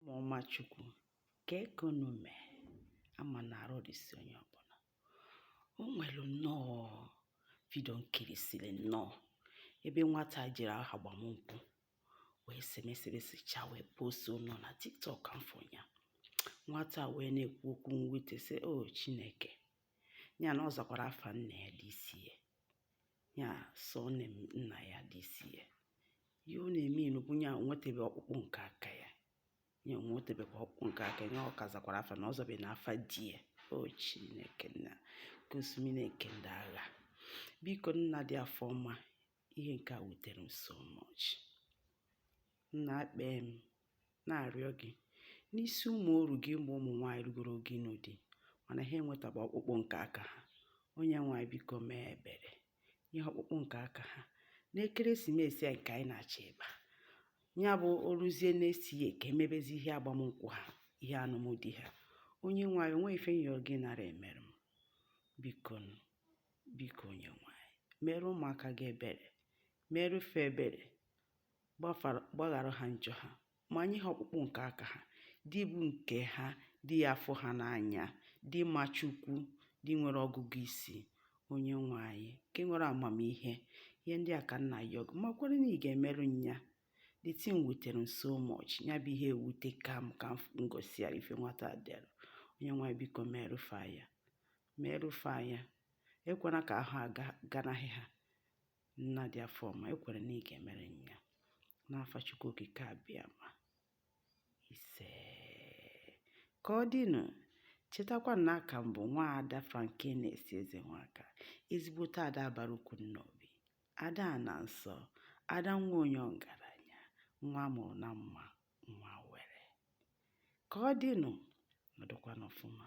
Ụmụọma Chukwu, kee ka unu mee ama na arụ dịsi onye ọbụla. O nwere nnọọ vidio m kirisiri nnọọ ebe nwata jere ihe agbamnkwụ wee semesebesicha wee postuo nọ na TikTok m afụ ya nwata wee na-ekwu okwu mwute sị o Chineke ya na ọ zakwara afa nna ya dị isi ya ya surname nna ya dị isi ya ihe ọ na-emeanụ bụ ya nwetebe ọkpụkpụ nke aka ya ya nwetebekwa ọkpụkpụ nke aka ya ọ ka zakwara afa na ọ zabena afa di ya o chineke nna nke usuu niine nke ndị agha biko nna dị afọ ọma ihe nke a wutere m so much nna akpee m na-arịọ gị n'isi ụmụ oru gị mgbe ụmụ nwaanyị rugoro oge ịnụ di mana ha enwetaba ọkpụkpụ nke aka ha onye nwe anyị biko mee ebere nye ha ọkpụkpụ nke aka ha n'ekeresimesi a nke anyị na-achọ ịba ya bụ o ruzie next year ka e mebezi ihe agbamnkwụ ha ihe anụmdi ha onye nwe anyị o nwe ife m yọ gị nara emere m biko biko onye nwe anyị meere ụmụaka gị ebere meerụ fa ebere gbaghara ha njọ ha ma nye ha ọkpụkpụ nke aka ha di bụ nke ha di ya-afụ ha n'anya di ma chukwu di nwere ọgụgụ isi onye nwe anyị nke nwere amamihe ihe ndị a ka m na-ayọ gị makwara na ị ga-emerụ m ya the thing wutere m so much ya bụ ihe ewuteka m ka m gụsịara ife nwata dere onye nwe anyị biko meerụ fa ya meerụ fa ya ekwela ka ahọ a ganahụ ha Nna dị afọ ọma, ekwere na ị ga-emere m ya. N'afa Chukwu Okike Abịama. Ise. Ka ọ dịnụ, chetakwa na aka m bụ nwa ada Frankness Ezenwaka, ezigbote ada bara ukwu Nnobi, ada ana nsọ, ada nwa onye ọgaranya, nwa a mụrụ na mma, nwa were. Ka ọ dịnụ, nọdụkwanụ ọfụma.